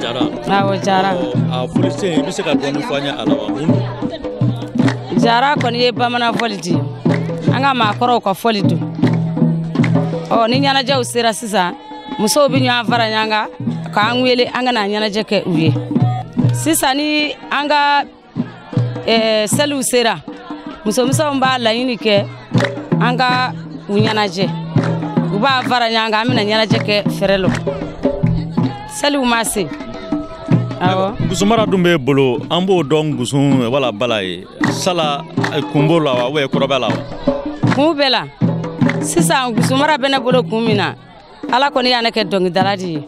jara awɔ jara a fɔlisen i bɛ se ka dɔɔni fɔ an ye a la wa mun don jara kɔni ye bamanan fɔli de an ka maakɔrɔw ka fɔli don ɔ ni ɲɛnajɛw sera sisan musow bɛ ɲɔgɔn fara ɲɔgɔn kan k'an wele an ka na ɲɛnajɛ kɛ u ye sisan ni an ka eh, seliw sera musomisɛnw b'a laɲini kɛ an ka u ɲɛnajɛ u b'a fara ɲɔgɔn kan an bɛna ɲɛnajɛ kɛ fɛrɛ lɔ seliw ma se awɔ gusumara dun b'e bolo an b'o dɔn gusun wala bala ye sala eh, kun b'o la wa ou bien kɔrɔ b'a la wa kun b'a la sisan gusumara bɛ ne bolo kun min na ala kɔni y'an kɛ dɔnkilidala de ye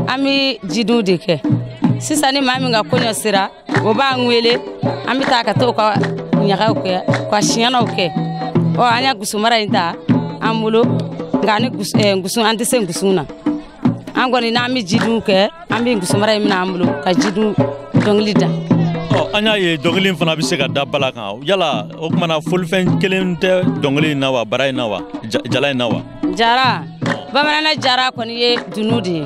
an bɛ jidiw de kɛ sisan ni maa min ka kɔɲɔ sera o b'an wele an bɛ taa ka t'o ka ɲagaw kɛ ka siɲɛnaw kɛ ɔ an ya gusumara in ta an bolo nka ani eh, gusun an tɛ se gusun na an kɔni n'an bɛ jidiw kɛ an bɛ gusumara in minɛ an bolo ka jidiw dɔnkili da an y'a ye dɔnkili fana bɛ se ka da bala kan yala o tuma na fɔlifɛn kelen tɛ dɔnkili in na wa bara in na wa jala in na wa jara bamananna jara kɔni ye dunun de ye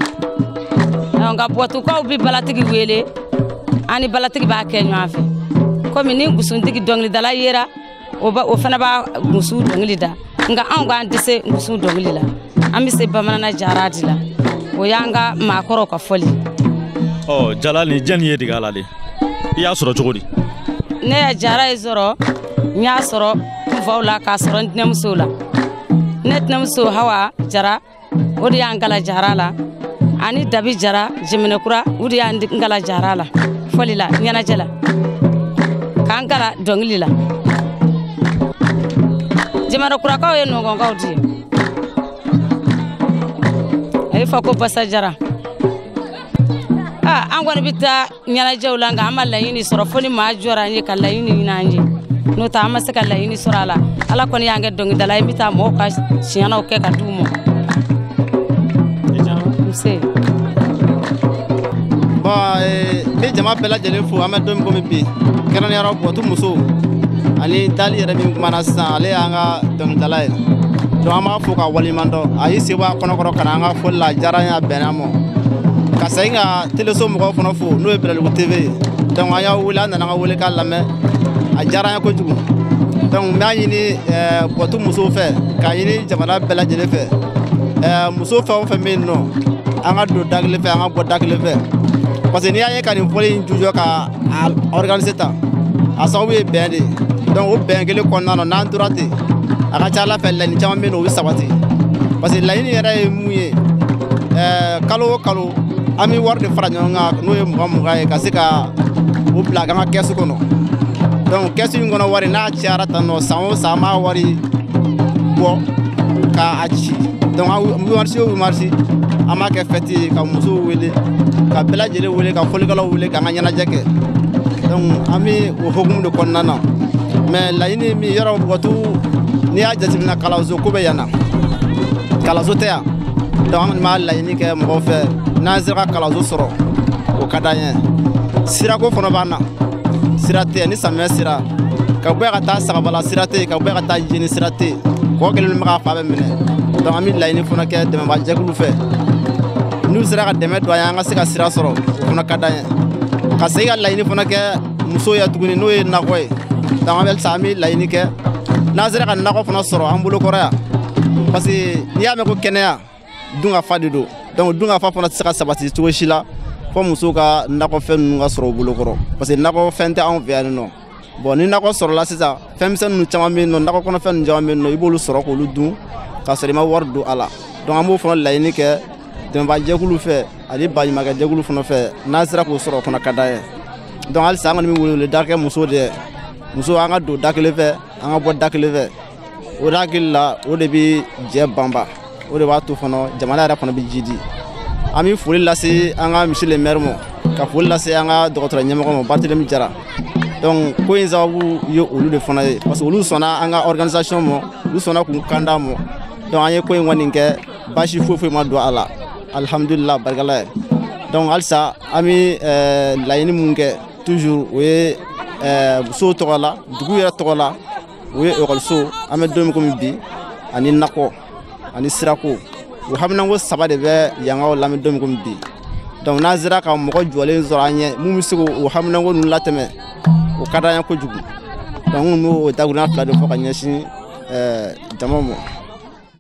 nka bɔtukaw bɛ balatigi wele an ni balatigi b'a kɛ ɲɔgɔn fɛ komi ni gusuntigi dɔnkilidala yera o fana b'a gusun dɔnkili da nka anw k'an tɛ se gusun dɔnkili la an bɛ se bamananna jara de la o y'an ka maakɔrɔw ka fɔli ɔ jala nin jɛni y'e dege a la de i y'a sɔrɔ cogo di ne ya jara in sɔrɔ n y'a sɔrɔ n faw la k'a sɔrɔ n tɛnɛmusow la ne tɛnɛmuso hawa jara o de y'an kalan jara la ani dabi jara jiminɛkura o de y'an kalan jara la fɔli la ɲɛnajɛ la k'an kalan dɔnkili la jiminɛkurakaw ye nɔnkɔnkaw de ye a bɛ fɔ ko basa jara an kɔni bɛ taa ɲɛnajɛw la nka an ma laɲini sɔrɔ fo ni maa jɔra an ye ka laɲini ɲini an ye n'o tɛ an ma se ka laɲini sɔrɔ a la ala kɔni y'an kɛ dɔnkilidala ye n bɛ taa mɔgɔw ka siɲɛnaw kɛ ka di u ma nse bon eh, n bɛ jama bɛɛ lajɛlen fo an bɛ don min komi bi kɛrɛnkɛrɛnnenya la bɔtu musow ani dali yɛrɛ min kumana sisan ale y'an ka dɔnkilidala ye donc an b'a fo k'a waleɲumandɔn a y'i sen bɔ a kɔnɔ kɔrɔ ka na an ka fɔli la a diyara n ye a bɛnna n ma ka segin ka teleso mɔgɔw fana fo n'o ye bɛlɛdugu tv ye donc an y'aw wele aw nana an ka wele k'a lamɛn a diyara an ye kojugu donc n b'a ɲini bɔtu musow fɛ k'a ɲini jamana bɛɛ lajɛlen fɛ muso fɛn o fɛn bɛ yen nɔ an ka don da kelen fɛ an ka bɔ da kelen fɛ parce que n'i y'a ye ka nin fɔli in jujɔ ka a organiser tan a sababu ye bɛn de ye donc o bɛn kelen kɔnɔna na n'an tora ten a ka ca ala fɛ laɲini caman bɛ yen o bɛ sabati parce que laɲini yɛrɛ ye mun ye ɛɛ kalo o kalo an bɛ wari de fara ɲɔgɔn kan n'o ye mugan mugan ye ka se ka o bila an ka kɛsu kɔnɔ donc kɛsu in kɔnɔ wari n'a cayara tan nɔ san o san an b'a wari bɔ ka a ci donc huit mars o huit mars an b'a kɛ fɛti ye ka musow wele ka bɛɛ lajɛlen wele ka fɔlikɛlaw wele k'an ka ɲɛnajɛ kɛ donc an bɛ o hokumu de kɔnɔna na mais laɲini min yɔrɔ b'o kɔ tugun n'i y'a jateminɛ kalanso ko bɛ yan na kalanso tɛ yan donc an kɔni b'a laɲini kɛ mɔgɔw fɛ n'an sera ka kalanso sɔrɔ o ka d'an ye sirako fana b'an na sira tɛ ni samiyɛ sera ka bɔ yan ka taa sagabala sira tɛ ka bɔ yan ka taa jeni sira tɛ kɔ kelen mana fa bɛ minɛ donc an bɛ laɲini fana kɛ dɛmɛbaajɛkulu fɛ n'u sera ka dɛmɛ don an ye an ka se ka sira sɔrɔ o fana ka d'an ye ka segin ka laɲini fana kɛ musow ye tuguni n'o ye nakɔ ye donc an bɛ halisa an bɛ laɲini kɛ n'an sera ka nakɔ fana sɔrɔ an bolokɔrɔ yan parce que n'i y'a mɛn ko kɛnɛya dunkafa de don donc dunkafa fana tɛ se ka sabati cogo si la fo musow ka nakɔfɛn ninnu ka sɔrɔ u bolo kɔrɔ parce que nakɔfɛn tɛ anw fɛ yan nɔ bon ni nakɔ sɔrɔla sisan fɛnmisɛn ninnu caman bɛ yen nɔ nakɔ kɔnɔfɛn ninnu caman bɛ yen nɔ i b'olu sɔrɔ k'olu dun k'a sɔrɔ i ma wari don a la donc an b'o fana laɲini kɛ dɛmɛbaajɛkulu fɛ ani baɲumankɛjɛkulu fana fɛ n'an sera k'o sɔrɔ o fana ka d'an ye donc halisa an kɔni bɛ weleweleda kɛ musow de ye musow an ka don da kelen fɛ an ka bɔ da kelen fɛ o de hakili la o de bɛ jɛ banba o de b'a to fana jamana yɛrɛ fana bɛ jiidi an bɛ foli lase an ka monsieur le maire ma ka foli lase an ka dɔgɔtɔrɔ ɲɛmɔgɔ ma barthelemy jara donc ko in sababu ye olu de fana ye parce que olu sɔnna an ka organisation ma olu sɔnna k'u kan d'an ma donc an ye ko in kɔni kɛ baasi foyi foyi ma don a la alihamudulila barika ala ye donc halisa an bɛ eh, laɲini mun kɛ toujours o ye eh, musow tɔgɔ la dugu yɛrɛ tɔgɔ la o ye ekɔliso an bɛ don min komi bi ani nakɔ ani sirako o haminanko saba de bɛ yankaw la an bɛ don min komi bi donc n'an sera ka mɔgɔ jɔlen sɔrɔ an ɲɛ mun bɛ se k'o haminanko ninnu latɛmɛ o ka d'an ye kojugu donc n b'o dakuruɲa fila de fɔ ka ɲɛsin jama ma